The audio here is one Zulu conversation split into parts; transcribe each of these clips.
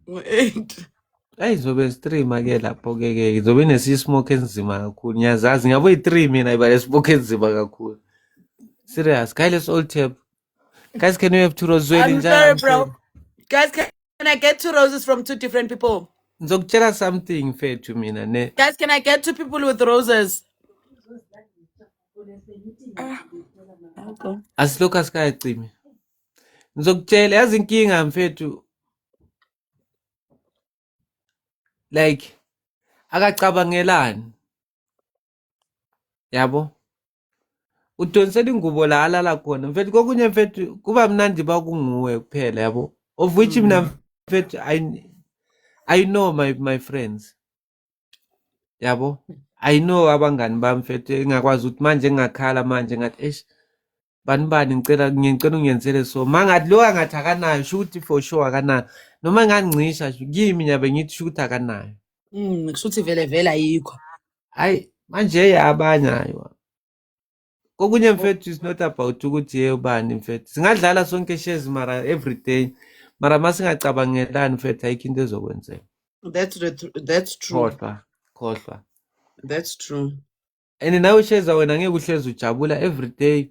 ngo-eight Ayi zobe zi-three make lapho-ke ke zobe nesismoke enzima kakhulu ngiyazazi ngabo yi-three mina iba nesmoke enzima kakhulu serious guy let's all tap guys can we have two roses I'm njalo sorry, I'm bro. sorry Guys, can can I get two roses from two different people? ngizokutshela something mfethu mina ne Guys, can I get two people with roses? Ah, okay. asilokhu asikayacimi ngizokutshela yazi inkinga mfethu like akacabangelani yabo udonsela ingubo la alala khona mfethu kokunye mfethu kuba mnandi bakunguwe kuphela yabo of which mina mm. mfethu i i know my my friends yabo i know abangani bami mfethu engakwazi ukuthi manje ngingakhala manje ngathi eish bani bani ngicela ngicela ungenzele so mangathi lo angathi akanayo sho ukuthi for sure akanayo noma ngangcisha kimi nyabe ngithi sho ukuthi akanayo mm kusho ukuthi vele vele ayikho hayi manje yabanye hayo kokunye mfethu is not about ukuthi ye ubani mfethu singadlala sonke shares mara every day mara masingacabangelani mfethu ayikho into ezokwenzeka that's the tr- that's true khohlwa khohlwa that's true and nawe sheza wena ngeke uhlezi ujabula every day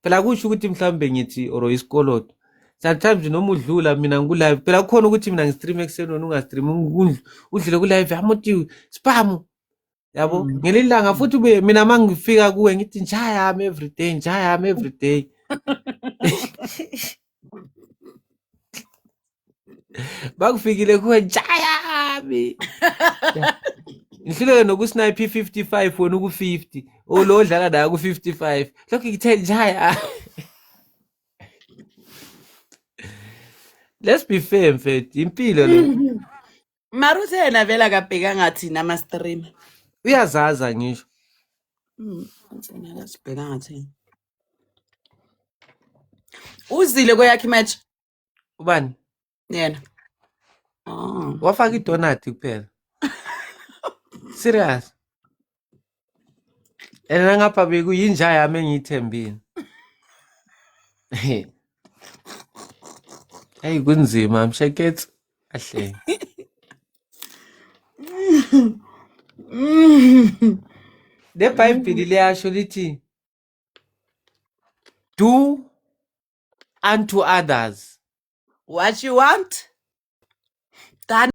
phela kusho ukuthi mhlawumbe ngithi or isikoloto sometimes noma udlula mina ngikulive phela kukhona ukuthi mina ngistream ekuseni wena ungastream udlule kulive amuthi spam yabo mm. ngelinye ilanga futhi ubuye mina uma ngifika kuwe ngithi njayami everyday njayami everyday bakufikile kuwe njayami ngihluleke nokusnipe i-55 wena uku-50 olo odlala nayo ku-55 lokhu ngithe njaya let's be fair mfethu impilo le mara uthe yena vele akabhekanga thina ama-streamer uyazaza ngisho Mm, uthena akasibhekanga thina uzile kweyakhe imatch ubani yena oh. wafaka idonati kuphela serious and nangapha bekuyinja yami engiyithembile eyi kunzima msheketsi ahle le bhayibhili liyasho lithi do unto others what you want done